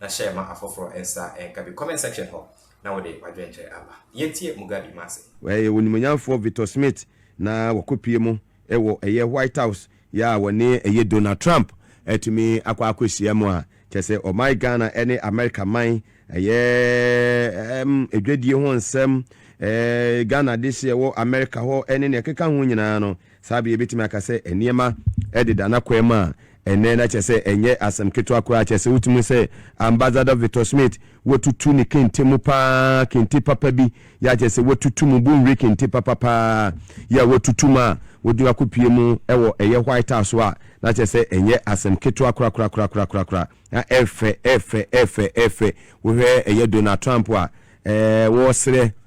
na hyɛ ma afoforo nsa nka bi comment section hɔ na wode w'adwenkyerɛ aba. Yɛntie Mugabi ma ase. Wɔyɛ onimuonyamfoɔ Victor Smith na wɔkɔpue mu wɔ ɛyɛ White House yɛ a wɔne ɛyɛ Donald Trump atumi akɔ akɔhyia mu a kyerɛ sɛ ɔman Ghana ne America man ɛyɛ ɛɛm adwadie ho nsɛm ɛɛ Ghana dehyeɛ wɔ America hɔ ne nea ɛkeka ho nyinaa no Saa bere yi yebetumi aka sɛ nneɛma deda n'akwan mu a ɛnnɛ, na kyerɛ sɛ ɛnyɛ asɛm ketewa koraa. Kyerɛ sɛ wotumi hu sɛ Ambassador Victor Smith, watutu ne kente mu paa, kente papa bi yɛ a kyerɛ sɛ watutu mu, bonwire kente papa paa yɛ a watutu mu a wode no akopue mu wɔ ɛyɛ White House so a, na kyerɛ sɛ ɛnyɛ asɛm ketewa korakorakorakorakoraa. Na ɛyɛ fɛ, ɛyɛ fɛ, ɛyɛ fɛ, ɛyɛ fɛ. Wohwɛ ɛyɛ Donald Trump a, ɛɛ, wɔresrɛ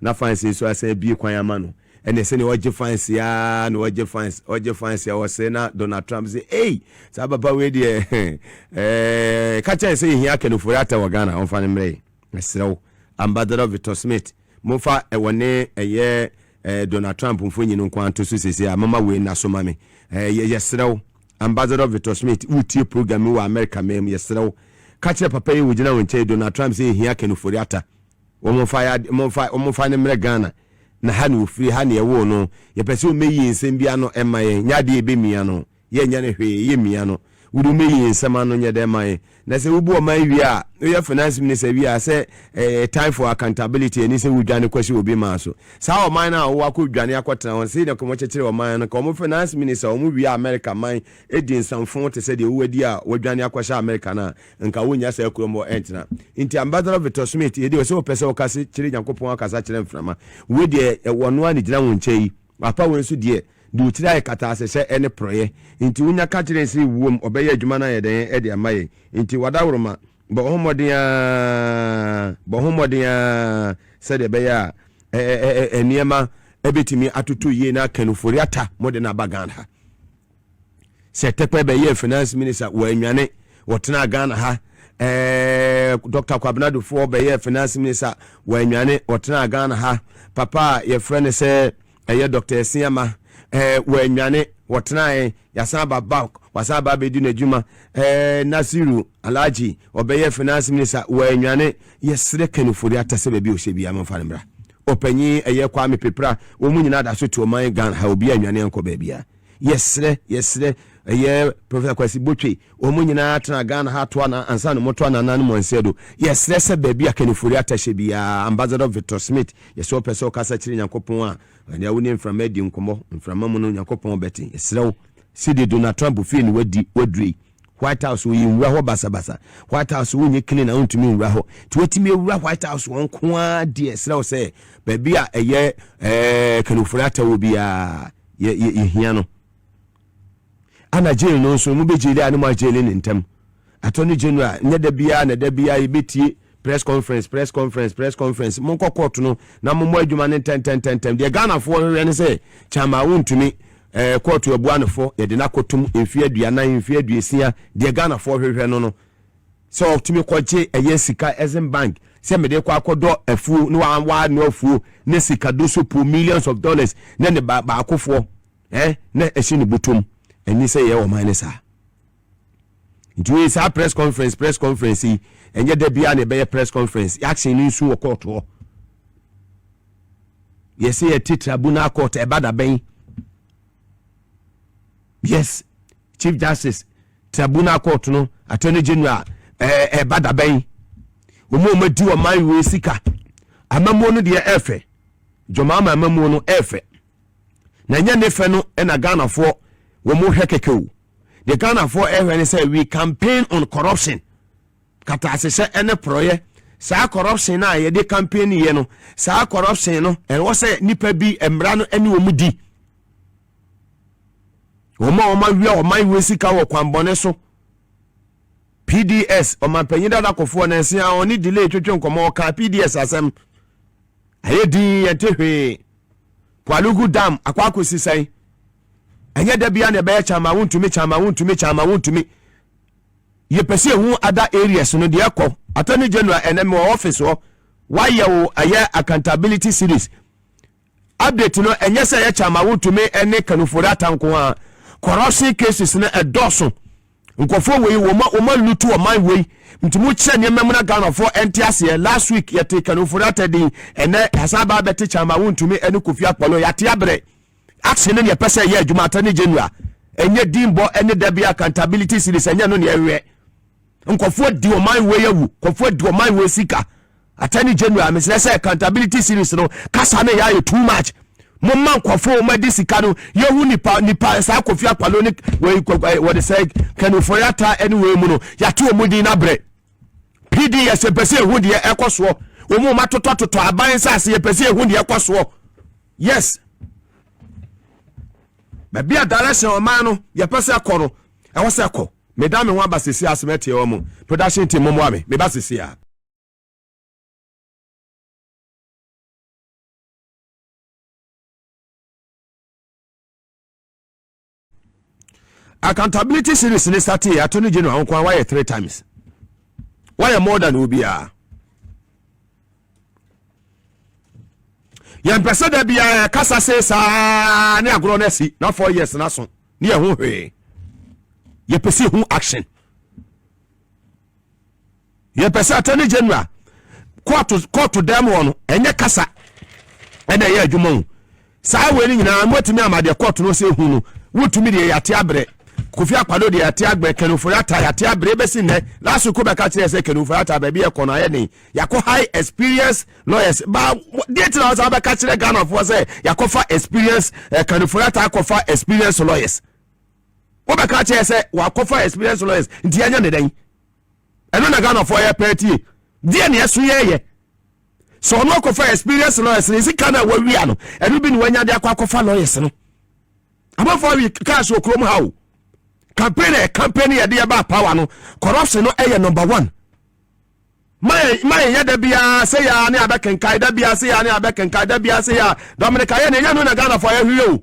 na fans nso asan abue kwan ama no, ɛnneɛ sɛdeɛ ɔregye fans yi ara na ɔregye fans, ɔregye fans a ɔsere na Donald Trump se, Ei! Saa papa wei deɛ, eh, ka kyerɛ no sɛ yɛhia akannifoɔ ratɛ wɔ Ghana, ɔmfa no mmrɛ yɛn, mesrɛ wo. Ambassador Victor Smith, momfa ɛwɔ ne ɛyɛ eh, Donald Trump mfonyin no nko ara nto so seesei a, momma wei nna so ma me. Eh, yɛ, yɛsrɛ wo. Ambassador Victor Smith, woretie program yi wɔ Amerika man mu, yɛsrɛ wo. Ka kyerɛ papa yi a ɔgyina wo nkyɛn yi, Donald Trump sɛ yɛhia akannifoɔ ratɛ. Wɔmfa ya wɔmfa wɔmfa no mmrɛ Ghana na ha na ɔfiri ha na yɛwoo no yɛpɛ sɛ ɔmmɛyie nsɛm bi ano mma yɛn nyɛ adeɛ a ɛbɛmia no yɛnyɛ no hwee ɛyɛ mia no wode ɔmmɛyie nsɛm ano nyɛ dɛn ma yɛn na sɛ wobu ɔman wie a woyɛ finance minister wie a sɛ ɛɛ time for accountability ɛne sɛ wodwane kɔsi obi maa so saa ɔman no a wɔwɔ akɔ dwane akɔtena hɔ sei na kɔmɔ kyekyere ɔman no ka wɔn finance minister wɔn wie a America man ɛdi nsamfo te sɛ deɛ wowadi a wɔadwane akɔhyɛ America no a nka wonnya saa kurom hɔ ntena. Nti Ambassador Victor Smith, yɛ deɛ ɔsɛ ɔpɛ sɛ ɔka se kyere Nyankopɔn akasa kyerɛ mframa. Woi deɛ ɛwɔ ɔno ara na ɛgyina wo nkyɛn yi. W'apa woi nso deɛ, de wo tiri ayɛ kataasɛhyɛ ɛne porɔeɛ. Nti wonya ka kyere nse wuom ɔbɛyɛ adwuma no ayɛ dɛn ɛde ama yɛn. Nti W'adaworoma, bɔ ho mmɔden ara, bɔ ho mmɔden ara sɛdeɛ ɛbɛyɛ a ɛ-ɛ-ɛ-ɛ nneɛma ɛbɛtumi atoto yie na Kanufori ata mo de no aba Ghana ha. sɛ tɛpɛ bɛyɛɛ finance minister wɔanwane wɔtenaa ghana ha ɛɛ dr kwabena dofoɔ bɛyɛɛ finance minister wɔanwane wɔtenaa ghana ha papa a yɛfrɛ no sɛ ɛyɛ dr asiama ɛɛ wɔanwane wɔtenae yasan aba bank wasan aba abɛdi n'adwuma ɛɛ nasiru alagye ɔbɛyɛ finance minister wɔanwane yɛserɛ kanifori atasɛ baabi ɔhyɛ biara momfa no mmra ɔpanyin ɛyɛ kwame pepra wɔn nyinaa da so te ɔman ghana ha obi anwane ankɔ baabiara yɛsrɛ yɛsrɛ ɛyɛ professor kwasi botwe wɔn nyinaa tena ghana ha to ana ansa na wɔto anana no mu ansɛ do yɛsrɛ sɛ baabi a kanifori atahyɛ biara ambassador victor smith yɛsɛ ɔpɛ sɛ ɔkasa kyerɛ nyankopɔn a ɛnea wo ne mframa adi nkɔmmɔ mframa mu no nyankopɔn bɛte yɛsrɛ wo sidi donald trump fie ne wadi wadure white house wɔyɛ nwura hɔ basabasa white house wonye clean a wontumi nwura hɔ nti watumi awura white house wɔn ko ara deɛ ɛserɛ wo sɛ baabi a ɛyɛ eh, kanifori atawɔ biara yɛ yɛ yɛhia no ana jail no nso mo bɛ jail a ne mo ajail ne ntɛm attorney general nyɛ da biara na da biara yɛbɛtie press conference press conference press conference mo nkɔ court no na mo mmɔ adwuma no ntɛntɛntɛntɛm deɛ ghanafoɔ hwehwɛ ne sɛ kyama wontumi ɛɛ court abua no fo yɛde no akɔtom mfeɛ aduanan mfeɛ aduasia deɛ ghanafoɔ hwehwɛ no no sɛ ɔtumi kɔgye ɛyɛ sika ɛsen bank sɛ mede kɔ akɔdɔ afuo na wa wa no afuo ne sika do so po millions of dollars na ne ba baakofoɔ eh na ɛhyɛ ne butom ɛni sɛ yɛ ɔman ne saa nti wei saa press conference press conference yi ɛnyɛ da biara na ɛbɛyɛ press conference action ne nsu wɔ court hɔ yɛsɛ yɛte tribunal court ɛba da bɛn Yes, Chief Justice, Tribunal Court no, Attorney General, ɛɛ ɛba da bɛn? Wɔn a wɔadi ɔman wei sika. Amamuo no deɛ ɛfɛ. Dwamaama amamuo no ɛfɛ. Na ɛnyɛ ne fɛ no ɛna Ghanafoɔ wɔn hwɛ kɛkɛ o. Deɛ Ghanafoɔ ɛhwɛ ne sɛ we campaign on corruption. kataasesɛ ne porɔeɛ saa corruption no a yɛde campaign yɛ no saa corruption no ɛwɔ sɛ nipa bi mmara no ɛne wɔn di wɔn a wɔn awia ɔman wɔ sika wɔ kwanbɔne so pds ɔmanpanyin dada kɔfoɔ nansi a ɔne delay twetwe nkɔmɔ ɔka pds asɛm ɛyɛ din yɛte hwee poalugu dam akɔ akɔsi sɛn ɛnyɛ da bia na ɛbɛyɛ kyama wontumi kyama wontumi kyama wontumi yɛpɛ sɛ yɛhu ada areas no deɛ ɛkɔ attorney general ɛnɛ mewɔ office hɔ wayɛ wo ɛyɛ accountability series update no ɛnyɛ sɛ yɛkyɛ ama wotumi ɛne kanufori atanko a corruption cases no ɛdɔɔso nkɔfoɔ wei wɔma wɔma lutu ɔman wei nti mo kyerɛ nneɛma mu na ghanafoɔ ɛnte aseɛ last week yɛte kanufori atɛden ɛnɛ yɛsan ba abɛte kyɛ ama wontumi ɛne kofi akpɔlo yɛate abrɛ Action ne nea ɛpɛ sɛ ɛyɛ adwuma, attorney general, ɛnyɛ din bɔ ɛne da bi accountability series ɛnyɛ no nea ɛwɛ. Nkɔfoɔ di ɔman wei awu, nkɔfoɔ di ɔman wei sika. Attorney general mesrɛ sɛ accountability series no kasa no yɛ ayɛ too much. Mo ma nkɔfoɔ wɔn adi sika no yɛhu nipa nipa saa kofi akpalo ne wɔde sɛ kɛnufɔyata ɛne wɔn mu no yɛato wɔn din abrɛ. PDS yɛpɛ sɛ ehu deɛ ɛkɔ soɔ wɔn wɔn atotɔtotɔ aban nsaase yɛpɛ sɛ ehu deɛ ɛkɔ soɔ yes baabi a direction ɔman no yɛpɛ sɛ ɛkɔ no ɛwɔ sɛ ɛkɔ meda me ho aba sisi asem ɛteɛ wɔn mu production team mmoa me meba sisi a. accountability series ne startee attorney general ho kwan wayɛ three times wayɛ more than obiara yɛmpɛ sɛ da biara kasa se saa ne agorɔ no asi na four years no aso ne yɛho hwee yɛpɛ sɛ hu action Yɛpɛ sɛ Attorney General kɔɔto kɔɔto dɛm hɔ no ɛnyɛ kasa ɛna ɛyɛ adwuma o. Saa wei no nyinaa mobɛtumi ama deɛ kɔɔto no sɛ hu no wotumi deɛ yɛate abrɛ. Kofi Akpado deɛ yɛate abrɛ, Ken Ofori-Atta yɛate abrɛ ebɛsi nnɛ. Last week wobɛka kyerɛ yɛ sɛ Ken Ofori-Atta baabi a ɛkɔ no ayɛ den. Yɛakɔ high experience lawyers ba deɛ ti na wɔsan bɛka kyerɛ Ghanafoɔ sɛ yɛakɔfa experience eh, Ken Ofori-Atta akɔfa experience lawyers. Wobɛka kyerɛ yɛ sɛ wakɔfa experience lawyers nti yɛnyɛ ne dɛn. ɛno na ghanafoɔ yɛ pɛɛ tie deɛ ne ɛso yɛ yɛ sɛ ɔno akɔfa experience lawyers ne sika no a wawia no ɛno bi ne wanya de akɔ akɔfa lawyers no amanfoɔ awi kaas wɔ kurom ha o campaign ɛ campaign yɛde ɛba power no corruption no ɛyɛ number one mayɛ yɛ da biara sɛ yɛa ne abɛkenkae da biara sɛ yɛa ne abɛkenkae da biara sɛ yɛa dominica yɛ ne ɛnyɛ no na ghanafoɔ yɛhweyɛ o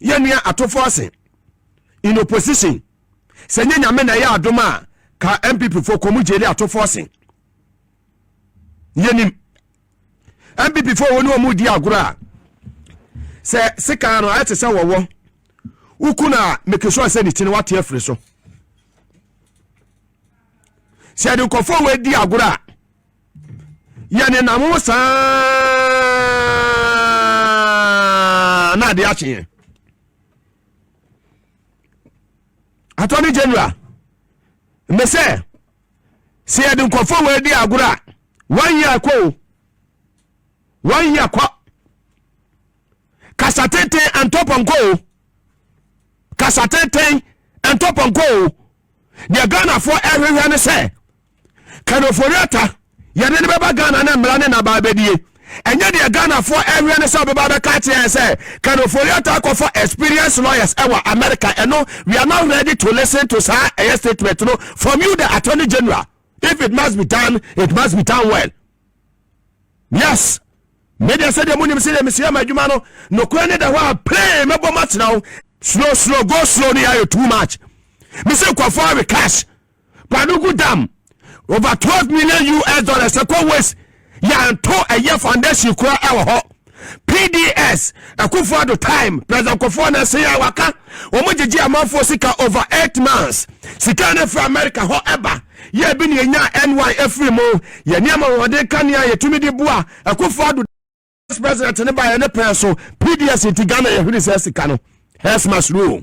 yɛ nua atofo ase in opposition sɛ nyɛ nyame na ɛyɛ adom a ka mpp fo kɔmu gyeli atofo ase yɛnim mpp fo wɔ ne ɔmu di agorɔ a sɛ sekaa no ayɛ te sɛ wɔwɔ woku no a make sure sɛ ne ti no wate afiri so sɛ yɛde nkɔfoɔ wɔ adi agorɔ a yɛnenam ho saa na ade akye yɛn attorney general me sɛ sɛ yɛde nkɔfoɔ wɔ adi agorɔ a one year kɔ o one year kɔ kasa tenten antɔpɔnkɔ o kasa tenten antɔpɔnkɔ o deɛ ghanafoɔ ɛhwehwɛ ne sɛ kano foriata yɛde ne bɛba ghana ne mmara ne nabaa bɛdie ɛnyɛ deɛ ghanafoɔ ɛhwehwɛ ne sɛ ɔbɛba bɛka akyerɛ yɛn sɛ kano foriata akɔfa experience lawyers ɛwɔ america ɛno we are not ready to listen to saa ɛyɛ statement no from you the attorney general if it must be done it must be done well yes medeɛ sɛdeɛ monim sɛdeɛ mesua ma adwuma no nokorɛ ne da hɔ a pray mɛbɔ mo atena wo slow slow go slow no yɛayɛ too much mese nkɔfoɔ awe cash kwadogu dam over 12 million us dollars ɛkɔ waste yɛanto ɛyɛ foundation kora ɛwɔ hɔ PDS, Akufo Addo time, President Kofi Annan say a waka, wɔn gyegye amanfoɔ sika over eight months. Sika no firi America hɔ ɛba, yɛ ebi na yɛnya NY efiri mu. Yɛ nneɛma wɔde ka nea yɛtumi de bua Akufo Addo as president ne ba yɛ ne pɛn so. PDS nti Ghana yɛ hwere saa sika no. Hess must rule.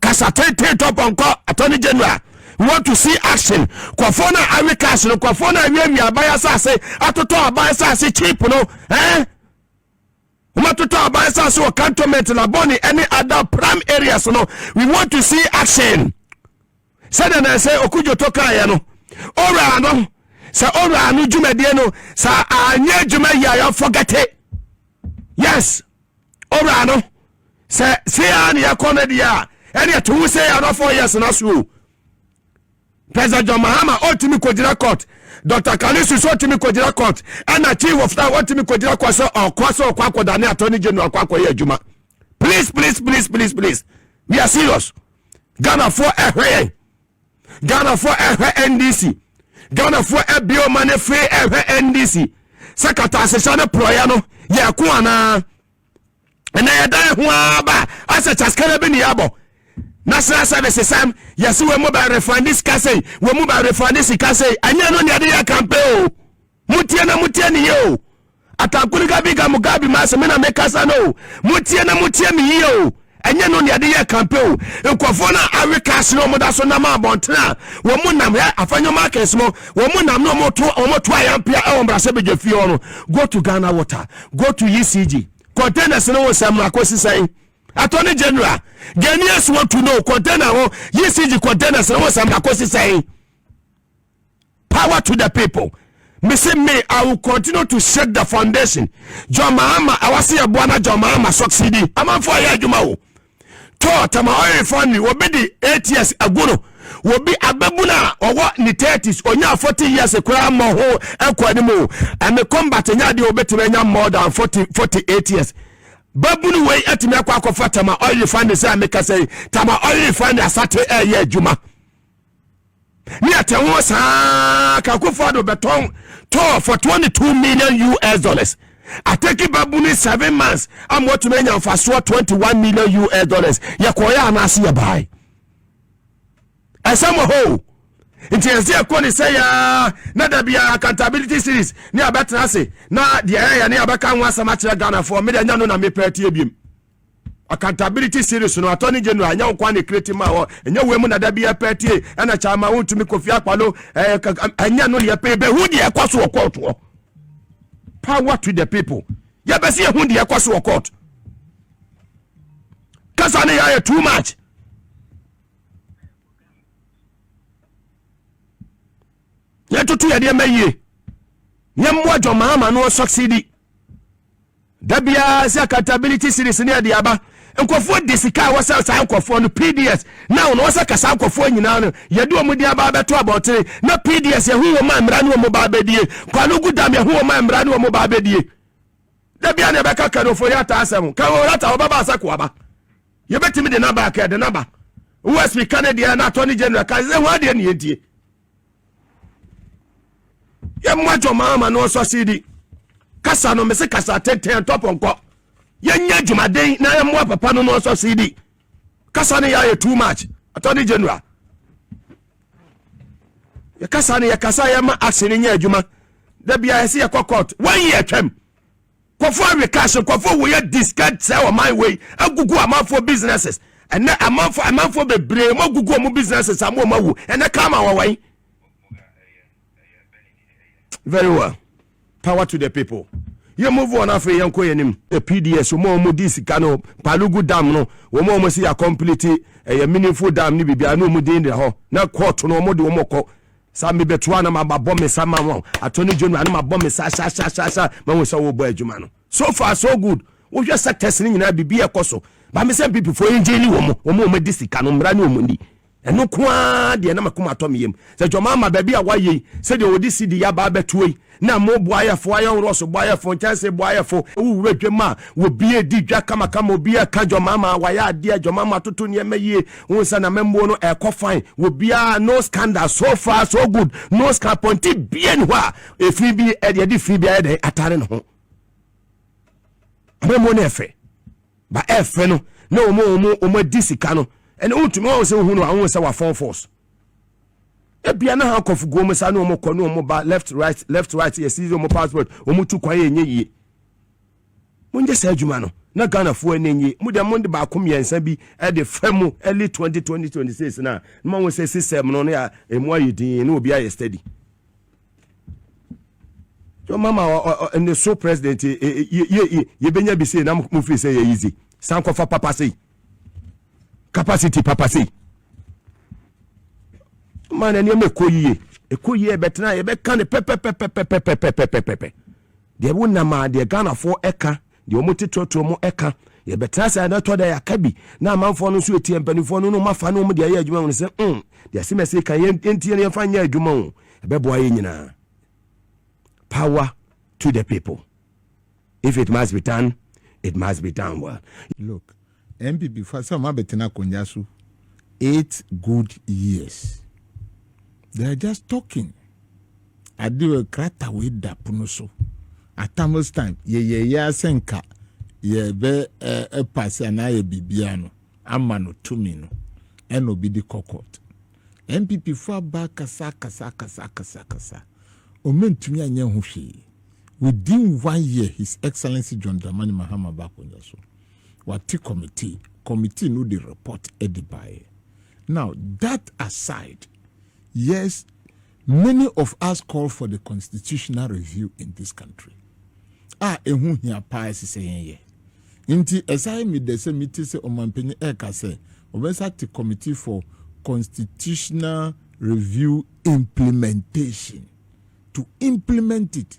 kasa tenten tɔ pɔnkɔ attorney general we want to see action kɔfo na awe cash no kɔfo na awe awi aban asase atotɔ aban asase cheap no eh wɔatotɔ aban asase wɔ cantonment labɔne ɛne ada prime areas no we want to see action sɛdeɛ na ɛsɛ Okudzoto kaeɛ no, Owura no, sɛ Owura no dwumadie no, sɛ anyɛ adwuma yi a yɛfɔgɛte. Yes, Owura no, sɛ sei ara na yɛkɔ no deɛ a, ɛdeɛ to ho sei another four years na so o. President John Mahama ɔtumi kɔgyina court, Dr. Kalisu sɛ ɔtumi kɔgyina court, ɛna Chief of Staff ɔtumi kɔgyina court sɛ ɔkɔ sɛ ɔkɔ akɔdane Attorney General akɔ akɔyɛ adwuma. Please, please, please, please, please, we are serious. ghanafoɔ ɛhwɛ yɛn ghanafoɔ ɛhwɛ ndc ghanafoɔ ɛbie ɔma no fee ɛhwɛ ndc sɛ kataasesa ne porɔeɛ no yɛko anaa ɛnɛ yɛda yɛ ho ara ba asɛ kyaskana bi ne yɛabɔ national service sam yɛse wɔ mu ba refande sika sei wɔ mu ba refande sika sei ɛnyɛ no neɛde yɛ kampe o Motie na motie no yie o. Atankuli gabi ga Mugabe ma ase me na mekasa no o. Motie na motie me yie o. Ɛnyɛ no nea de yɛ kampe o. Nkurɔfoɔ no a awe cash no wɔn da so nam abɔntene a wɔn nam hɛ afanyɔ markets mo wɔn nam no wɔn to wɔn to ayampea ɛwɔ mbrasɛbɛgya fie hɔ no go to Ghana water go to ECG containers no wo nsɛm no akɔsi sɛn attorney general Ghanaians want to know container ho ECG containers no wo nsɛm no akɔsi sɛn. power to the people me se me i will continue to shake the foundation john mahama ɛwɔ se yɛboa na john mahama succeed amanfo a yɛ adwuma o tɔ tama ɔyɛ refinery obi de eight years agu no obi abɛbu no a ɔwɔ ne thirties onya forty years koraa mmɔ ho ɛkɔ anim o ɛme combat nya adeɛ obɛtumi anya more than forty forty eight years babunu wei atumi akɔ akɔfa tama ɔyɛ refinery sɛ mekasa yi tama ɔyɛ refinery asate ɛyɛ adwuma ne ɛte ho saa ka Akufo-Addo bɛtɔn tɔɔ for 22 million US dollars atɛki babuni seven months a wɔatumi anya mfasoɔ 21 million US dollars yɛkɔɔyɛ anaase yɛbae ɛsɛm wɔ hɔ o nti ɛsɛ ɛkɔ ne sɛ yaa na da biara accountability series ne abɛtena ase na deɛ ɛyɛ ne abɛka ho asɛm akyerɛ ghanafoɔ mede anya no na mepɛ atie biem accountability series no attorney general ɛnyɛ wo kwan na ɛkire ti ma hɔ ɛnyɛ wei mu na da bi ɛpɛ tie ɛna kyɛ ama wontumi kofi akpalo ɛnyɛ no deɛ pɛ bɛhu deɛ ɛkɔ so wɔ court hɔ power to the people yɛbɛsi ɛhu deɛ ɛkɔ so wɔ court kasa ne yɛayɛ too much yɛtoto yɛdeɛ ma yie yɛmmoa dwɔmaama no ɔsɔksidi Da biara sɛ accountability series no ɛde aba nkurɔfoɔ de sika a wɔsɛ saa nkurɔfoɔ no PDS now na wɔsɛ ka saa nkurɔfoɔ nyinaa no yɛde wɔn din aba abɛto abɔntene na PDS yɛhu wɔn a mmara ne wɔn ba abɛdie Kwame Ogudam yɛhu wɔn a mmara ne wɔn ba abɛdie da biara na ɛbɛka kanofo yɛ ata asɛm ka wɔn ata wɔbɛba asɛ ko aba yɛbɛtumi de naba kɛ de naba OSP ka ne deɛ na attorney general ka sɛ wɔn adeɛ ne yɛdie yɛmmoa dwɔma ama no ɔsɔ sidi kasa no mese kasa tenten ntɔpɔnkɔ yɛnyɛ adwumaden na yɛmmoa papa no no ɔsɔ sidi kasa no yɛayɛ too much attorney general yɛkasa no yɛkasa yɛma action no nyɛ adwuma da bia yɛse yɛkɔ court one year twam Kɔfo awe cash nkɔfo woyɛ discard sɛ ɔman wei agugu amanfoɔ businesses ɛnɛ amanfoɔ amanfoɔ bebree mo agugu ɔmo businesses a mo ɔmo awu ɛnɛ karma wɔ wɔn very well power to the people yɛ move on afei yɛn kɔ yɛn nim. the pds wɔn a wɔn di sika no palugu dam no wɔn a wɔn si yɛ complete ɛyɛ meaningful dam ne biribiara ne wɔn din da hɔ na court no wɔn de wɔn kɔ Sa me bɛ toa na ma ba bɔ me sa ma wɔn attorney general na ma bɔ me sa sa sa sa sa ma wɔn sa wɔ bɔ adwuma no so far so good wo hwɛ sectors ni nyinaa bibi ɛkɔ so ba me sɛ mpp fo ɛngye ni wɔn wɔn wɔn di sika no mmra ni wɔn ni ɛno koaa deɛ na ma kuma atɔ me yam sɛ jɔmaa ma baabi a wa yei sɛ deɛ wɔde si di ya ba abɛtoa yi na mo boayɛfo, ayɔnworɔ so boayɛfo, nkyɛnse boayɛfo, wo wura dwam a obi edi dwa kamakama, obi ɛka dwama ma wayɛ adeɛ, dwama ma atoto nneɛma yie, wo nsa na mɛmmuo no ɛkɔ fine, obiara no scandal, so far so good, no scandal, pɔnti bie ne hɔ a efi bi ɛde ɛde fi bi ayɛ dɛn atare ne ho. Amammuo no ɛfɛ, ba ɛfɛ no na wɔn wɔn wɔn adi sika no, ɛna wotumi wɔn sɛ ohun no ahun sɛ wafɔn force. ebia na handcuff gu wɔn sa ne wɔn kɔ ne wɔn ba left right left right yɛ sisi wɔn passport wɔn tu kwan yɛ nye yie mo nyɛ saa adwuma no na ghanafoɔ ani nye mo deɛ mo de baako mmiɛnsa bi de fɛ mu early twenty twenty twenty six na na wɔn sɛ system no ne a emu ayɛ din ne obi ayɛ steady yɛ mama ɔ ɔ ne so president yɛ yɛ yɛ yɛ bɛnya bi sei na mo fi sɛ yɛ yizi sankɔfa papa sei. capacity papa sei ma na nneɛma ɛkɔ yie ɛkɔ yie ɛbɛtena yɛbɛka no pɛpɛpɛpɛpɛpɛpɛpɛpɛ deɛ wonam a deɛ ghanafoɔ ɛka deɛ wɔn te torɔtorɔ mu ɛka yɛbɛtena sɛ ɛna tɔ da yɛaka bi na amanfoɔ no nso ɛtie mpanimfoɔ no no mafa no wɔn deɛ ɛyɛ adwuma wɔn sɛ mm deɛ sɛ mɛsɛ ka yɛntie no yɛmfa nyɛ adwuma o ɛbɛboa yɛ nyinaa power to the people If it must be done, it must be done well. Look, NPP fo asɛ ɔmo abɛtena akonnwa so eight good years. They are just talking. Ade wɔ krata wei da pono so. At Tamils time, yɛyɛ yɛ asɛ nka yɛbɛ ɛpase anaa yɛ biribiara no ama no tumi no ɛna obi de kɔ court. NPP fo aba akasa akasa akasa akasa akasa ɔma ntumi anyɛ ho hwee within one year his excellency John Dramani Mahama ba akonnwa so wate committee committee no de report ɛde baeɛ now that aside yes Many of us call for the constitutional review in this country a ɛho hia paa ɛsɛ sɛ yɛn yɛ. Nti ɛsae me dɛ sɛ mete sɛ ɔmampanyin ɛreka sɛ wɔbɛsa te Committee for Constitutional Review Implementation to implement it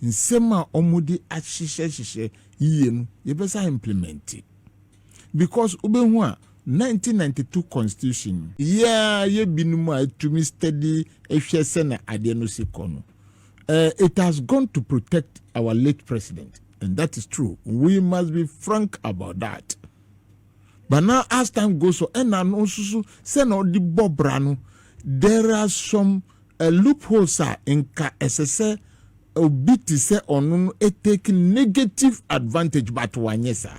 nsɛm a wɔde ahyehyɛ hyehyɛ yiye no yɛbɛsa implementi. because wobɛhu a nineteen ninety two constitution no. Yɛa yɛ binom a ɛtumi study hwɛ sɛna adeɛ no si kɔ no eh it has gone to protect our late president and that is true we must be frank about that but now as time goes on ɛna no nso so sɛna ɔde bɔ bra no there are some uh, loopholes a nka ɛsɛ sɛ obi te sɛ ɔno no take negative advantage but wanyɛ saa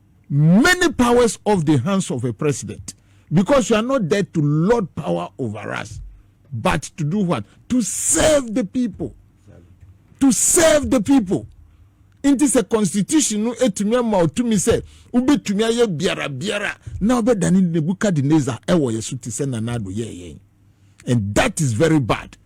many powers off the hands of a president because you are not there to lord power over us but to do what to serve the people to serve the people nti sɛ constitution no etumi ama otumi sɛ wobɛtumi ayɛ biara biara na wobɛdane nebukadnezar ɛwɔ yɛ so te sɛ nanado yɛɛ yɛn and that is very bad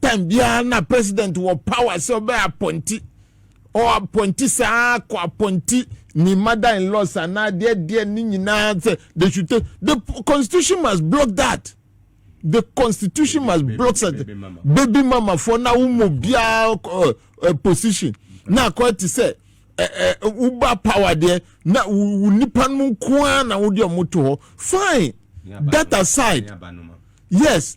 time biara na president wɔ power sɛ ɔbɛ apɔnti ɔ apɔnti saa kɔ apɔnti ne mother in laws anaa deɛ deɛ ne nyinaa sɛ they should take the constitution must block that the constitution must block that baby mama for na wo mu biara uh, uh, position na akɔ te sɛ woba power deɛ na wo nipa no nko ara na wode ɔmo to hɔ fine that aside yes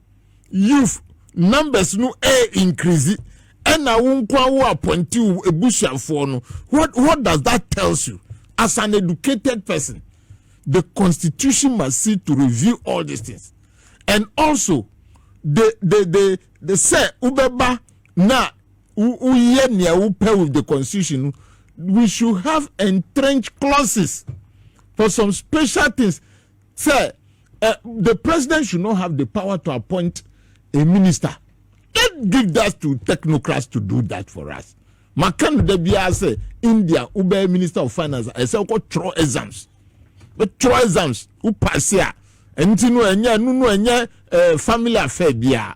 youth numbers no ɛyɛ eh, increase ɛna wo nkoa wo apɔnte wo ebusuafoɔ no what what does that tells you as an educated person the constitution must see to review all these things and also the the the the sɛ wobɛba na woyɛ nea wopɛ with the constitution no we should have entrenched clauses for some special things sɛ uh, the president should not have the power to appoint a minister let's give that to technocrats to do that for us maka no da biara sɛ india wobɛyɛ minister of finance ɛsɛ wokɔ twerɛ exams wotwerɛ exams wopase a ɛnti no ɛnyɛ ɛno no ɛnyɛ family affair biara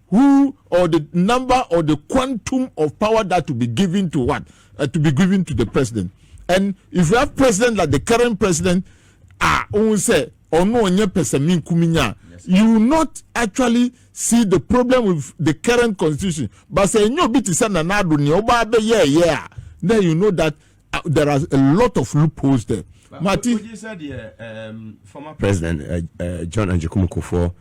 who or the number or the quantum of power that will be given to what uh, to be given to the president and if you have president like the current president ah ohun sɛ ɔno ɔnyɛ pɛsɛmi nkuminya you will not actually see the problem with the current constitution but sɛ enyo bi ti sɛ nana ado nea ɔba abɛyɛ ɛyɛ a then you know that. uh, there are a lot of loopholes there. Mati. Would you say the um, former president uh, uh, John Anjikumu Kufuor,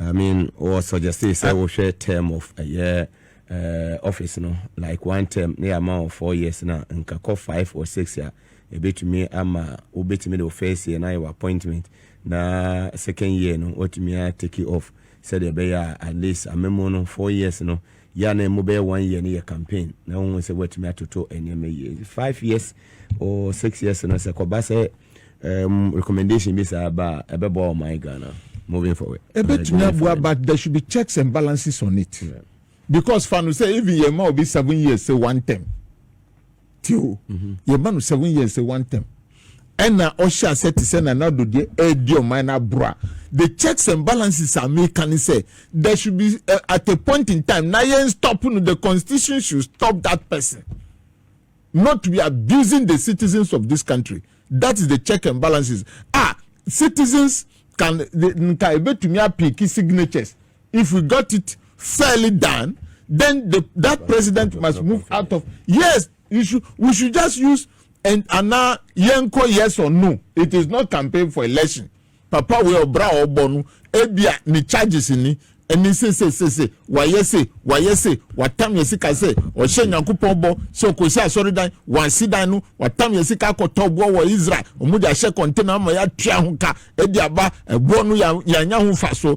I mean, or suggested say we share term of a year. Uh, office no like one term ne ama wɔ four years na nka kɔ five or six a ebetumi ama obetumi de o first year na yɛ wɔ appointment na second year no watumi a take it off sɛdeɛ ɛbɛyɛ a at least amemo no four years no Yɛ a na ɛmu bɛyɛ one year no yɛ campaign na wɔn sɛ wɔatumi atoto nneɛma yie nti five years or six years no sɛ kɔba sɛ um, recommendation bi saa ba a ɛbɛboa wɔn ayɛ Ghana moving forward. Ɛbɛtumi uh, aboa but there should be checks and balances on it yeah. because fa no sɛ even yɛn ma obi seven years sɛ one term. ti o mhm. yɛma no seven years one term ɛna ɔhyɛ asɛ te sɛ nana do deɛ ɛredi ɔman no aboro a the checks and balances a meka ne sɛ there should be uh, at a point in time na yɛn stop no the constitution should stop that person not to be abusing the citizens of this country that is the check and balances ah citizens can nka ebetumi apiki signatures If we got it fairly done, then the, that president must move out of. Yes, you should, we should just use and ana yenko yes or no. It is not campaign for election. Papa we obra obo no ebia ne charges ni ɛne se se se se wayɛ se wayɛ se watam yɛ sika sɛ ɔhyɛ nyankopɔn bɔ sɛ ɔkɔsi asɔredan wansi dan no watam yɛ sika akɔtɔ boɔ wɔ israel ɔmo de ahyɛ kɔntena ama yɛatua ho ka ɛde aba ɛboɔ no yɛanya ho fa so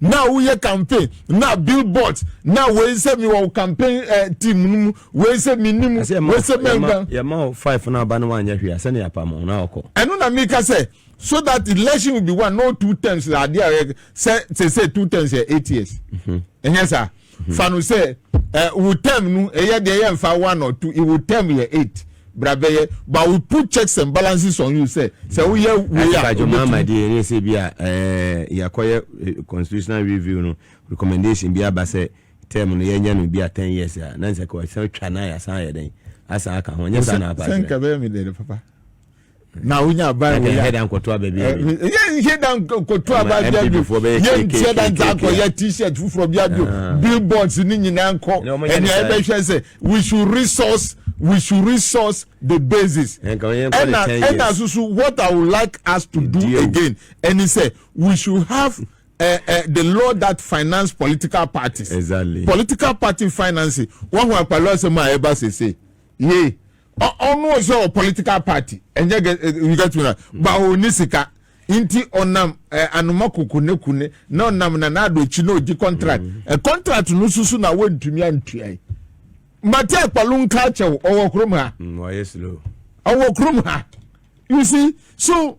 na woyɛ campaign na billboard na wei sɛ mi wɔ campaign eh, team no mu wei sɛ mi ni mu wei sɛ mi nka. yɛma o five na aba no wanyɛ hwee asɛnni apam o na ɔkɔ. ɛno na mi ka sɛ so that election will be one no two terms na adeɛ a yɛ sɛ sɛ sɛ two terms yɛ eight years ɛnyɛ saa. mhm. fa no sɛ eh, wo term no ɛyɛ eh, deɛ yɛmfa one or two wo term yɛ eight bra bɛyɛ but we put checks and balances on you sɛ sɛ woyɛ wei a wobɛtumi deɛ ɛne sɛ bi a eh, yɛakɔyɛ eh, constitutional review no recommendation bi aba sɛ term no yɛnyɛ no bi a ten years a na nsɛ kɔ ɛsɛ twa na yɛasan yɛ dɛn asan aka ho nyɛ saa na apa kyerɛ sɛ nka bɛyɛ me dɛn papa na wonya ban wei a yɛnhyɛ da nkɔto aba bia bio yɛnhyɛ da nsa akɔyɛ t-shirt foforɔ bia bio ah. billboards ne nyinaa nkɔ ɛnea ɛbɛhwɛ sɛ we should resource we should resource the basis ɛna ɛna soso what i would like us to do again ɛni sɛ we should have uh, uh, the law that finance political parties. Exactly. Political party financing. Wọ́n hu àpàlọ́ ọ̀sẹ̀ mu àyẹ̀bá ṣèṣe. Yé ɔno ɔsɛ ɔ political party ɛnyɛ gɛ you get me na ba ɔni sika nti ɔnam ɛ eh, anoma koko ne kune na ɔnam na n'ado akyi na ɔgye contract mm. ɛ eh, contract no susu na wɔntumi antua yi mate akpalo nka akyɛw ɔwɔ kurom ha mm, ɔwɔ kurom ha you see so.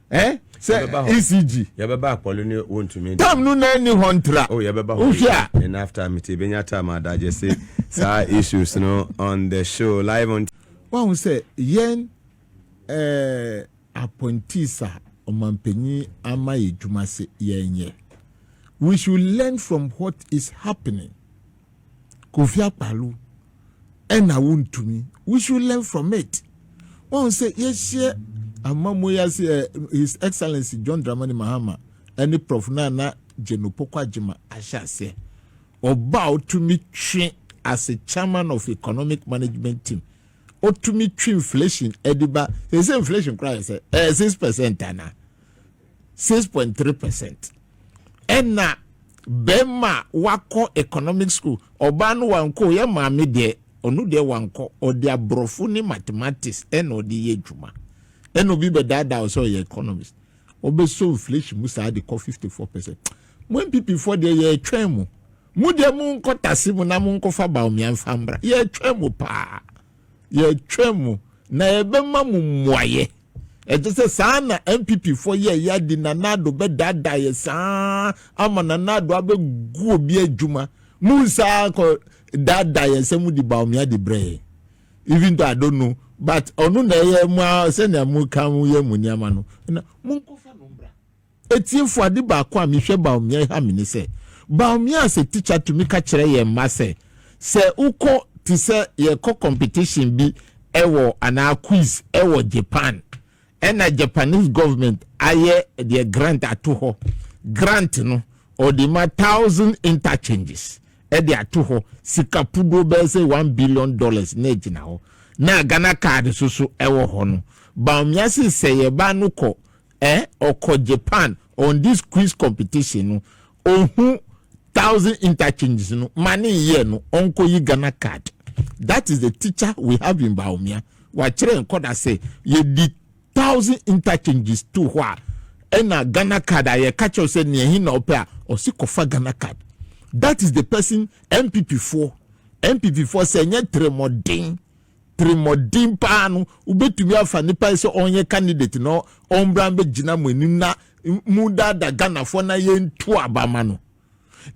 eh? sɛ ecg yɛbɛba akpɔle ne wontumi tam no na ɛni hɔ ntra oh, yɛbɛba wohwɛ a and after mete bɛnya tam adagye se saa issues no on the show live on wahu sɛ yɛn eh, appointees a ɔmampanyin ama yɛ adwuma se yɛnyɛ we should learn from what is happening Kofi Akpaloo ɛna wontumi we should learn from it wɔn sɛ yɛhyɛ amamuo yi ase ɛ his excellence John Dramani Mahama ɛne Prof Nana Geno Poko Agyema ahyɛ aseɛ ɔba a ɔtumi twe as chairman of economic management team ɔtumi twe inflation ɛde ba sɛ sɛ inflation koraa yɛ sɛ ɛyɛ six percent ana six point three percent ɛna bɛrima a wakɔ economic school ɔbaa no wankɔ yɛ maame deɛ ɔno deɛ wankɔ ɔde aborɔfo ne mathematics ɛna ɔde yɛ adwuma ɛna obi bɛdaadaa wo sɛ ɔyɛ economist ɔbɛsɔ inflation mu saa de kɔ fifty four percent mo npp foɔ deɛ yɛretwɛn mo mo deɛ mo nkɔ tase mu na mo nkɔfa baomia mfa mbra yɛretwɛn mo paa. yɛtwam na yɛbɛma mo mmuaeɛ ɛte sɛ saa na npp foɔ yɛ yɛ adi nana ado bɛdaadaa yɛ saa ama nana ado abɛgu obi adwuma mu saa kɔ daadaa yɛ sɛ mo di baomia di brɛ yɛ even though I don't know but ɔno na ɛyɛ mo a sɛnea mo ka mo yɛ mo nneɛma no na mo nkɔfa no mbra Atiefo, ade baako a mehwɛ Bawumia yi ha me ne sɛ, Bawumia as a teacher tumi ka kyerɛ yɛn mma sɛ, sɛ wokɔ te sɛ yɛkɔ competition bi wɔ anaa quiz wɔ Japan ɛna Japanese government ayɛ deɛ grant ato hɔ, grant no ɔde ma thousand interchanges ɛde ato hɔ, sika puduo bɛyɛ sɛ one billion dollars na ɛgyina hɔ na Ghana card so so ɛwɔ hɔ no, Bawumia se sɛ yɛn ba no kɔ Eh ɔkɔ Japan on this quiz competition no ohu thousand interchanges no ma ne yɛ no ɔnkɔ yi Ghana card that is the teacher we have in Baomia wakyerɛ nkɔda sɛ yɛdi thousand interchanges to hɔ a ɛna Ghana card a yɛka kyerɛw sɛ nea ɛhe na ɔpɛ a ɔsi kɔfa Ghana card that is the person MPP foɔ MPP foɔ sɛ ɛnyɛ tiri mɔden tirimɔden paa no, wobɛtumi afa nipa yi sɛ ɔnyɛ candidate na ɔmbra bɛgyina mo anim na mu dada Ghanafoɔ na yɛntu aba ma no.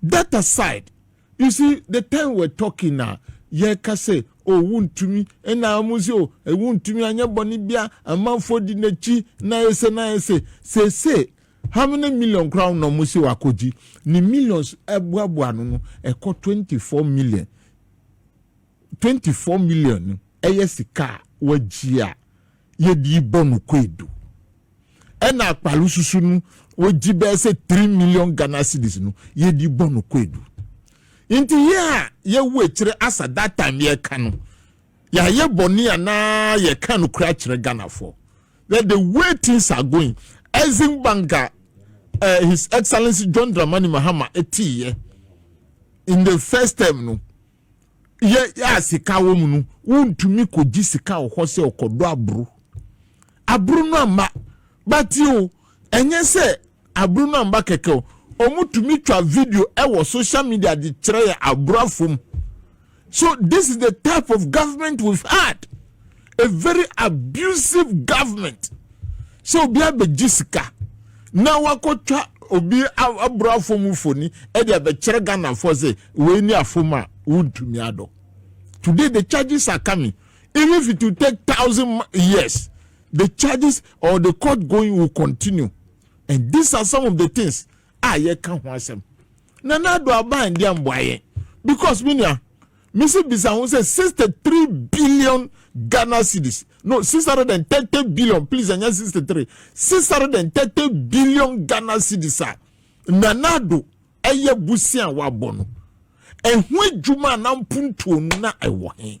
That aside, you see the time we're talking na yɛka sɛ o oh, wontumi ɛna ɔmo sɛ o oh, eh, wontumi anyɛ bɔne bia amanfoɔ di n'akyi na ɛsɛ na ɛsɛ sese how many million koraa na ɔmo sɛ wakɔgye ne millions ɛboaboa no no ɛkɔ twenty four million twenty four million no ɛyɛ sika a wɔagye a yɛde rebɔ no kwadu ɛna akpalo susu no wɔgye bɛyɛ sɛ three million ghana cedis no yɛde rebɔ no kwadu nti yɛ a yɛwu akyire asa that time yɛka no yɛayɛ bɔne anaa yɛka no kora kyerɛ ghanafoɔ that the way things are going Exim Bank uh, eh, His Excellency John Dramani Mahama ɛtiiɛ in the first term no yɛ yɛ a sika wɔ mu no wontumi kɔgye sika wɔ hɔ sɛ ɔkɔdɔ aburo aburo no amma bate o ɛnyɛ sɛ aburo no amma kɛkɛ o wɔtumi twa video ɛwɔ social media de kyerɛ yɛ aburo afom so this is the type of government we've had a very abusive government sɛ obi abɛgye sika na wakɔtwa obi aboro afom mfoni ɛde abɛkyerɛ ghanafoɔ sɛ wei ne afom a wontumi adɔ today the charges are coming even if it will take thousand years the charges or the court going will continue and these are some of the things a yɛka ho asɛm na na ado aban deɛ mboa yɛn because menua Me nso bisa ho sɛ sixty three billion Ghana cedis no six hundred and thirty billion please ɛnyɛ sixty three six hundred and thirty billion Ghana cedis a Nana Addo ɛyɛ busi a wabɔ no ɛho adwuma a na mpuntuo no na ɛwɔ he.